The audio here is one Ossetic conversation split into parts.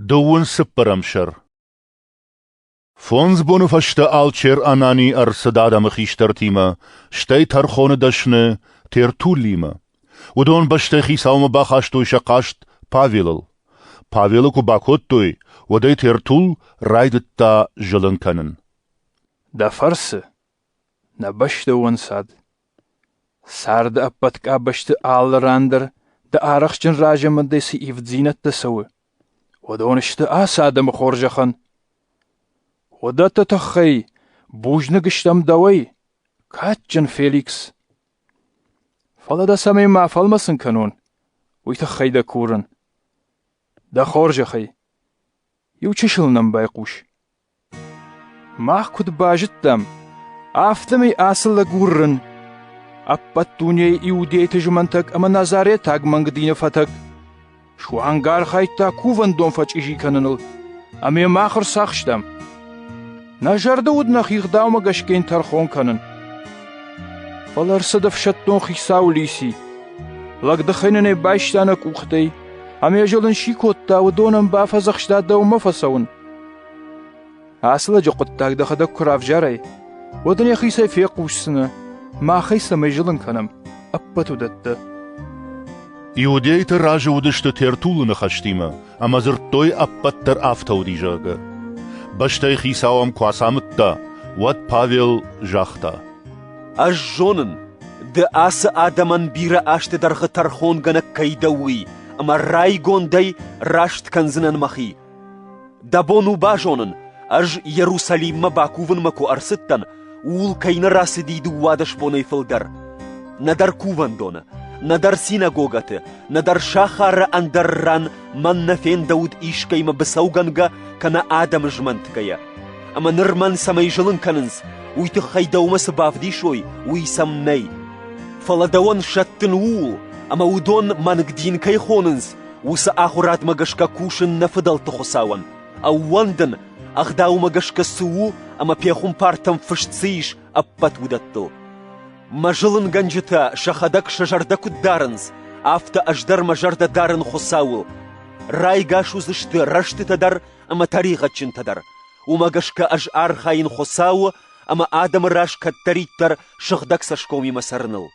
Дыууын цыппӕрӕм сӕр Фондз боны фӕстӕ Алчер Анани ӕрцыд адӕмы хистӕртимӕ, стӕй тӕрхоны дӕсны Тертуллимӕ. Уыдон бӕстӕ хицаумӕ бахастой сӕ хъаст Павелыл. Павелы куы бакодтой, уӕд ӕй Тертул райдыдта зылын кӕнын. Дӕ фӕрцы, нӕ бӕстӕ уӕнцад, Царды ӕппӕт къабӕзты алы ран дӕр дӕ арӕхстджын разамындӕй цы ивддзинӕдтӕ цӕуы, уыдон сты ацы адӕмы хорзӕхӕн. Уыдӕтты тыххӕй бузныг стӕм дӕуӕй, кадджын Феликс. Фӕлӕ дӕ цӕмӕй ма фӕлмӕцын кӕнон, уый тыххӕй дӕ курын. Дӕ хорзӕхӕй, иу чысыл нӕм байхъус. Мах куыд базыдтам, афтӕмӕй ацы лӕг уырын, ӕппӕт дунейы иудейты зымӕнтӕг ӕмӕ назаретаг мӕнг дины фӕтӕг, суанг архайдта кувӕндон фӕчъизи кӕныныл, ӕмӕ мах ӕрцахстам. Нӕ зӕрдӕ уыд нӕ хигъдаумӕ гӕсгӕ тӕрхон кӕнын. Фӕлӕ ӕрцыд ӕфсӕддон хицау Лиси. Лӕгдыхӕй нын ӕй байста нӕ къухтӕй, ӕмӕ зылын си кодта, уыдонӕн бафӕдзӕхста дӕумӕ фӕцӕуын. Ацы лӕджы хъуыддаг дӕхӕдӕг куы равзарай, уӕд ын йӕхицӕй фехъусдзынӕ, махӕй цӕмӕй зылын кӕнӕм, ӕппӕт уыдӕттӕ. Иудейты разы уыдысты Тертулы ныхӕстимӕ ӕмӕ дзырдтой ӕппӕт дӕр афтӕ уыди, зӕгъгӕ. Бӕстӕй хицау ӕм куы ацамыдта, уӕд Павел загъта. Ӕз зонын, ды ацы адӕмӕн бирӕ азты дӕргъы тӕрхонгӕнӕг кӕй дӕ, уый, ӕмӕ райгондӕй раст кӕндзынӕн мӕхи, Дӕ бон у базонын, ӕз Иерусалиммӕ бакувынмӕ куы ӕрцыдтӕн, ууыл кӕй нӕ рацыди дыууадӕс бонӕй фылдӕр. Нӕдӕр кувӕндоны, нӕдӕр синагогӕты, нӕдӕр сахары ӕндӕр ран мӕн нӕ фендӕуыд искӕимӕ быцӕугӕнгӕ кӕнӕ адӕмы змӕнтгӕйӕ. Ӕмӕ ныр мӕн цӕмӕй зылын кӕнынц, уый тыххӕй дӕумӕ цы бавдисой, уый сӕм нӕй. Фӕлӕ дӕуӕн сӕттын ууыл, ӕмӕ уыдон мӕнг дин кӕй хонынц, Уыцы ахуырадмӕ гӕсгӕ кусын нӕ фыдӕлты Хуыцауӕн, ӕууӕндын, ӕгъдаумӕ гӕсгӕ цы у ӕмӕ пехуымпартӕм фыст цы ис, ӕппӕт уыдӕттыл. Мӕ зылынгӕнджытӕ сӕхӕдӕг сӕ зӕрдӕ куыд дарынц, афтӕ ӕз дӕр мӕ зӕрдӕ дарын Хуыцауыл. Райгас уыдзысты рӕстытӕ дӕр ӕмӕ тӕригъӕдджынтӕ дӕр. Уымӕ гӕсгӕ ӕз архайын Хуыцауы ӕмӕ адӕмы раз кӕддӕриддӕр сыгъдӕг цӕсгомимӕ цӕрыныл.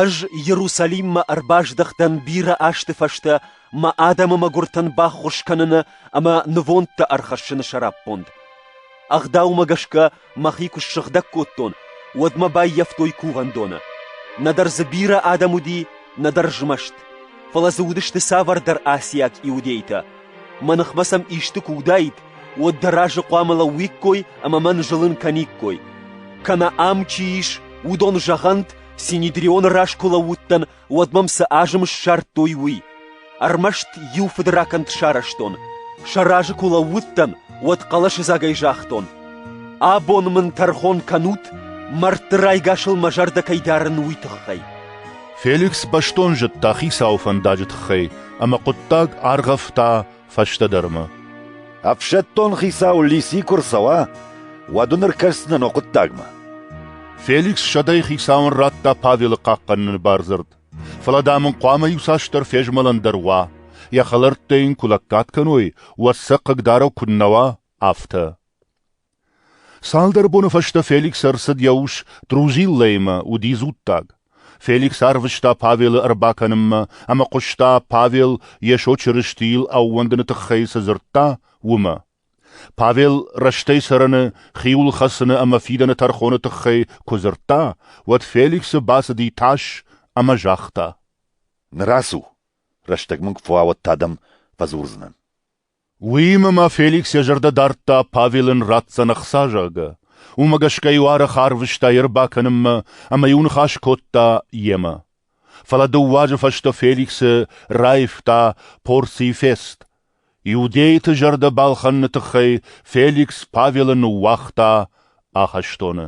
Ӕз Иерусалиммӕ ӕрбаздӕхтӕн бирӕ азты фӕстӕ мӕ адӕмы мӕгуыртӕн баххуыс кӕныны ӕмӕ нывондтӕ ӕрхӕссыны сӕраппонд. Ӕгъдаумӕ гӕсгӕ мӕхи куы ссыгъдӕг кодтон, уӕд мӕ баййӕфтой кувӕндоны. Нӕдӕр дзы бирӕ адӕм уыди, нӕдӕр змӕст. Фӕлӕ дзы уыдысты цавӕрдӕр асиат иудейтӕ. Мӕ ныхмӕ сӕм исты куы уыдаид, уӕд дӕ разы хъуамӕ лӕууиккой ӕмӕ мӕн зылын кӕниккой. Кӕнӕ ам чи ис, уыдон зӕгъӕнт, Синедрионы раз куы лӕууыдтӕн, уӕд мӕм цы азым ссардтой, уый. Ӕрмӕст иу фыдракӕнд сарӕзтон. Сӕ разы куы лӕууыдтӕн, уӕд хъӕлӕсыдзагӕй загътон. Абон мын тӕрхон кӕнут, мӕрдты райгасыл мӕ зӕрдӕ кӕй дарын, уый тыххӕй. Феликс бӕстон зыдта хицауы фӕндаджы тыххӕй ӕмӕ хъуыддаг аргъӕвта фӕстӕдӕрмӕ. Ӕфсӕддон хицау Лиси куы рцӕуа, уӕд ын ӕркӕсдзынӕн о хъуыддагмӕ. Феликс сӕдӕйы хицауӕн радта Павелы хъахъхъӕныны бардзырд, фӕлӕ, дам ын хъуамӕ иуцасдӕр фезмӕлӕн дӕр уа, йӕ хӕлӕрттӕ йын куы лӕггад кӕной, уӕд сӕ хъыгдарӕг куыннӕ уа, афтӕ. Цалдӕр боны фӕстӕ Феликс ӕрцыд йӕ ус Трузиллӕимӕ, уыди дзуттаг. Феликс арвыста Павелы ӕрбакӕнынмӕ ӕмӕ хъуыста, Павел Йесо Чырыстийыл ӕууӕндыны тыххӕй цы дзырдта, уымӕ. Павел рӕстӕй цӕрӕны, хиуылхӕцыны ӕмӕ фидӕны тӕрхоны тыххӕй куы дзырдта, уӕд Феликсы бацыди тас ӕмӕ загъта: «Ныр ацу, рӕстӕг мын куы фӕуа, уӕд та дӕм фӕдзурдзынӕн». Уыимӕ ма Феликс йӕ зӕрдӕ дардта, Павел ын ратдзӕн ӕхца, зӕгъгӕ. уымӕ гӕсгӕ-иу арӕх арвыста йӕ ӕрбакӕнынмӕ ӕмӕ-иу ныхас кодта йемӕ. Фӕлӕ дыууӕ азы фӕстӕ Феликсы раивта порцийы фест. Иудейты зӕрдӕ балхӕныны тыххӕй Феликс Павелы ныууагъта ахӕстоны.